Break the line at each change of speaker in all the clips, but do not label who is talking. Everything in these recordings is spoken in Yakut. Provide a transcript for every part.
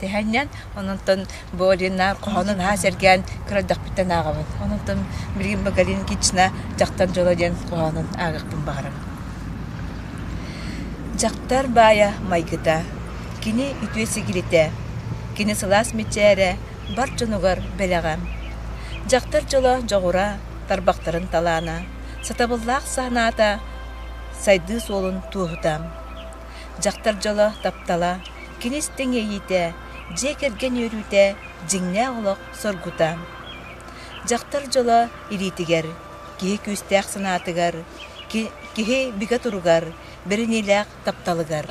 Тэһэннэн, ононтон Борина хоһону наһаа сэргээн көрөрдөхпүттэн ааҕабын. Ононтон Блин Боголин Кична Дьахтар дьоло диэн хоһоонун ааҕыахпын баҕарабын. Дьахтар баайа майгыта, кини үтүө сигилитэ, кини сылаас мичээрэ бар дьонугар бэлэҕэ. Дьахтар дьоло дьоҕура, тарбахтарын талаана, сатабыллаах санаата, сайдыы суолун туоһута. Дьахтар дьоло, таптала, кини истиҥ иэйиитэ, дьиэ кэргэн үөрүүтэ, дьиҥнээх олох соргута. Дьахтар дьоло илиитигэр, киһи күүстээх санаатыгар, киһи бигэ туругар, бэриниилээх тапталыгар.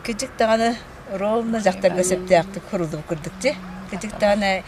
Кыдьык даҕаны ровно дьахтарга сөптөөхтүк хорууллубут курдук дии. Кыдьык даҕаны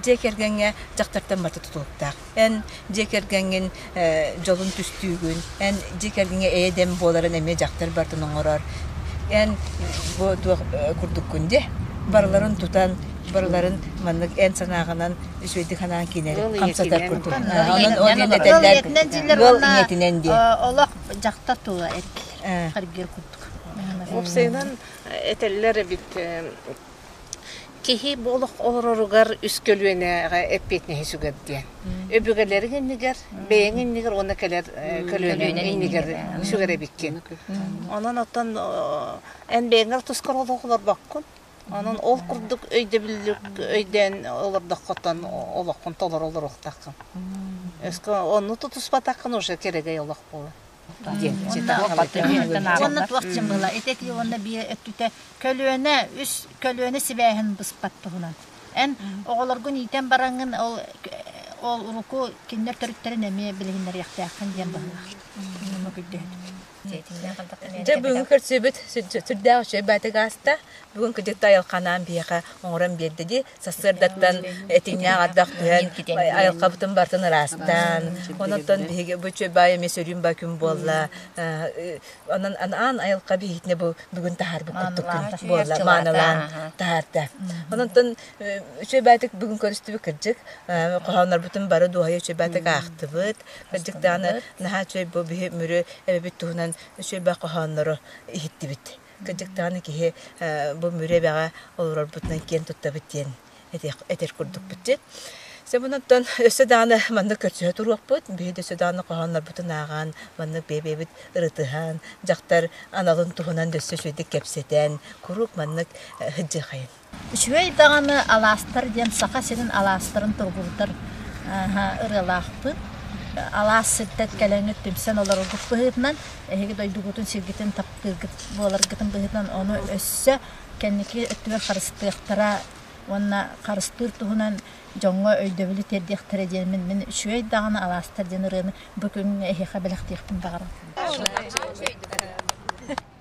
дьиэ кэргэҥҥэ дьахтартан бата тутулуктаах. Эн дьиэ кэргэҥҥин дьолун түстүүгүн, эн дьиэ кэргэҥҥэ эйэ-дэм буоларын эмиэ дьахтар барытын оҥорор. Эн бу туох курдуккун дии? Барыларын тутан, барыларын маннык эн санааҕынан үчүгэйдик санаан киинэр хамсатар курдук. Ол диэн этэллэр ыал
ийэтинэн диэн. Олох дьахтар тула эргийэр курдук. Уопсайынан
этэллэр эбит Киһи бу олох олороругар үс көлүөнэҕэ эппиэтинэһи сүгэр диэн. Өбүгэлэрин иннигэр, бэйэҥ иннигэр уонна кэлэр э, көлүөнэҥ иннигэр сүгэр эбиккин. Онон оттон эн бэйэҥэр тускар олох олорбоккун. Онон ол курдук өйдөбүллүк өйдөөн олордоххутан олоххун толору олоруохтаххын. Өскө онну тутуспатаххын уже керегэй олох буолар.
Уонна туох чим была итити уонна бие өттүтэ көлүөнэ үс көлүөнэ сибээһин быспат туһунан. Эн оҕолоргун ийтен бараңын ол ол уруку киннер төрүттэрин эмиэ билиһиннэриэхтээххин диэн баһылаах. Муну
Дьэ бүгүн көрсүбүт сүрдээх үчүгэй баатык ааста. Бүгүн кыдьык да айылханаан биһиэхэ оҥорон биэрдиди сарсыардаттан этиҥнээх ардах түһэн айылхабытын бартын ыраастаан онон биһиги бу чөбаа эмиэ сөрүүн ба күн буолла онон анаан айылха биһигитне бу бүгүн таһаарбыт курдук күн буолла мааналаан таһаарда ононтон үчөбаатык бүгүн көрүстүбү кырдьык хоһооннорбутун бары дуоһайа үчөбаатык аахтыбыт кырдьык дааны наһаа чөй бу биһи мүрү эбэбит туһунан үчөбэ хоһооннору иһиттибит Кырдьыктаҕына киһи бу мүрү эбэҕэ олорорбутунан киэн туттабыт диэн этэр курдукпут. Сабынаттан өссө дааны маннык көрсүһэ туруохпут. Биһи өссө дааны хоһооннорбутун ааҕан, маннык бэйэбит ырытыһан, дьахтар аналын туһунан өссө үчүгэйдик кэпсэтэн, куруук маннык ыһдьыхайын. Үчүгэй даҕаны
алаастар диэн Саха сирин алаастарын тургурутар ырыалаахпыт. Алаас сирдэр кэлэҥҥит түмсэн олороргут быһыытынан, эһиги дойдугутун сиргитин таптыыргыт буоларгытын быһыытынан ону өссө кэнники өттүгэр харыстыахтара уонна харыстыыр туһунан дьоҥҥо өйдөбүлү тиэрдиэхтэрэ диэн мин мин үчүгэй даҕаны алаастар диэн ырыаны бу күҥҥэ эһиэхэ бэлэхтиэхпин баҕарабын.